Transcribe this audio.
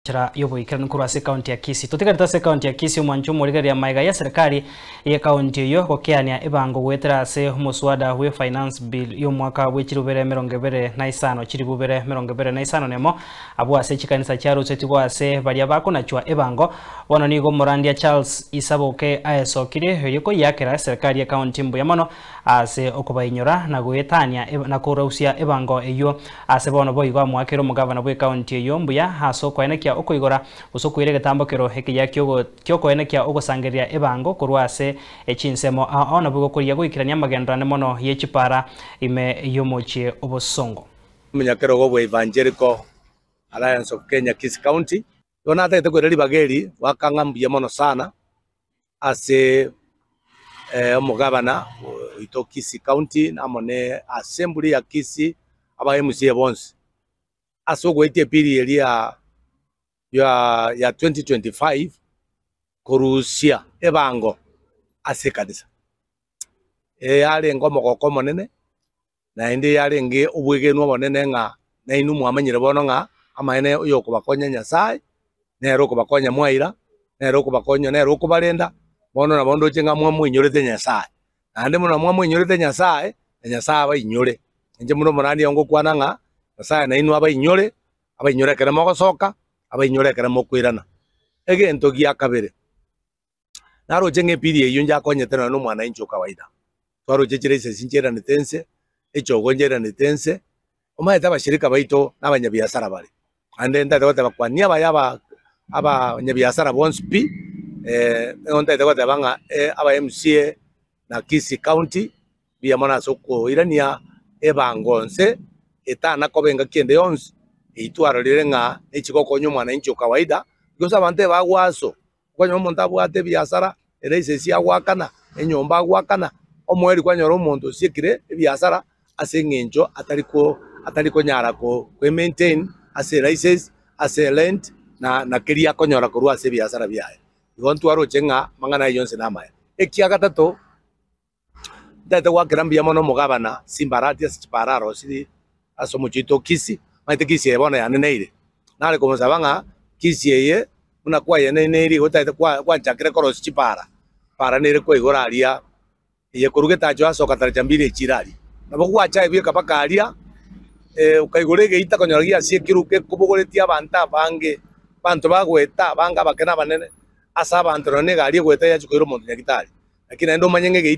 Enchera y'oboikeranu korwa ase ekaunti ya Kisii. Totigarete ase ekaunti ya Kisii omwancho omorigereria amaiga ya serikali ye kaunti eyio gokeania ebango goetera ase omoswada bwe finance bill y'omwaka bwe chirubere emerongo ebere na isano chiribubere emerongo ebere na isano nemo abwo ase chikanisa chiarusetigwe ase baria bakonachwa ebango bono nigo omorandia Charles Isaboke aesokirie erio koyiakera serikali ye kaunti mbuya mono ase okobainyora na goetania eb na korausia ebango eyio. Ase bono boigo amoakere omogavana bw'ekaunti eyio mbuya ase okoenekia okoigora gose okoira egetambo kero ekiya kiogo kiokoenekia ogosangereria ebango korwa ase echinsemo ao na boigo korigia goikerania amagenderane mono y'echipara ime y'omochie obosongo. Omonyakerogo bwa Evangelical Alliance of Kenya Kisii County Yohana atagete koira ribaga eri, goaka ng'a mbuya mono sana ase omogabana oito o Kisii County amo ne assembly ya Kisii, aba MCA bonsi, ase ogoetia epiri eria ya ya 2025 korusia ebango ase ekanisa. Eye arenge omogoko omonene. Naende yarenge obwegenwa obonene ng'a nainwe mwamanyire bono ng'a amaene oyokobakonya Nyasae nere okobakonya mwaira, nere okobakonya, nere okobarenda, bono nabo ndoche ng'a mwamoinyorete Nyasae. Naende buna mwamoinyorete Nyasae, na Nyasae abainyore. Inche buna omorani oo ngokwana ng'a Nyasae nainwe abainyore, abainyore ekero mogosoka, abainyore ekero mokoirana. Egento gia kabere. Naroche ng'epiri eyio njakonyete nonye nomwanainchi o kawaida. Twaroche chire isesi nchiranete ense, echogo nchiranete ense, omanyete abashirika baito nabanyabiasara bare. Naende ntaete goteba kwania abaye aba abanyabiasara bonsi pi, nigo ntaete goteba ng'a aba MCA na Kisii County mbuya mono ase okoirania ebango nse etana koba engaki ende yonsi eyio twarorire ng'a nechi gokonya omwanainchi o kawaida, because abanto ebagoaso Okonyora omonto abwate ebiasara, ere ase esia agoakana, enyomba agoakana, omoeri kwanyora omonto osiekire ebiasara ase eng'encho atari ko atari konyara ko e maintain ase license, ase rent na keria akonyora korwa ase ebiasara biaye. Igo ntwaroche ng'a amang'ana ayio yonsi namaya. Ekiagatato. Ntaete goakera mbuya mono omogabana chimbarati ase chipararo chiri ase omochie oito o Kisi, maete Kisi eye bono yaneneire. Nare komosaba ng'a Kisi eye buna kwayeneineiri igo taete gwanchakire korosia chipara, chipara nere kwa igoro aria, eye korwa getacho ase ogatara chambili echi ira aria. Nabo gwacha aye bweka mpaka aria, okaigora egeita okonyora giasiekirwe gekobogoretie abanto abange, abanto bagoeta abange abake na abanene, ase abanto nonye na egari egoeta yachia koira omonto nyagitari. Lakini naende omanye ng'a egeita.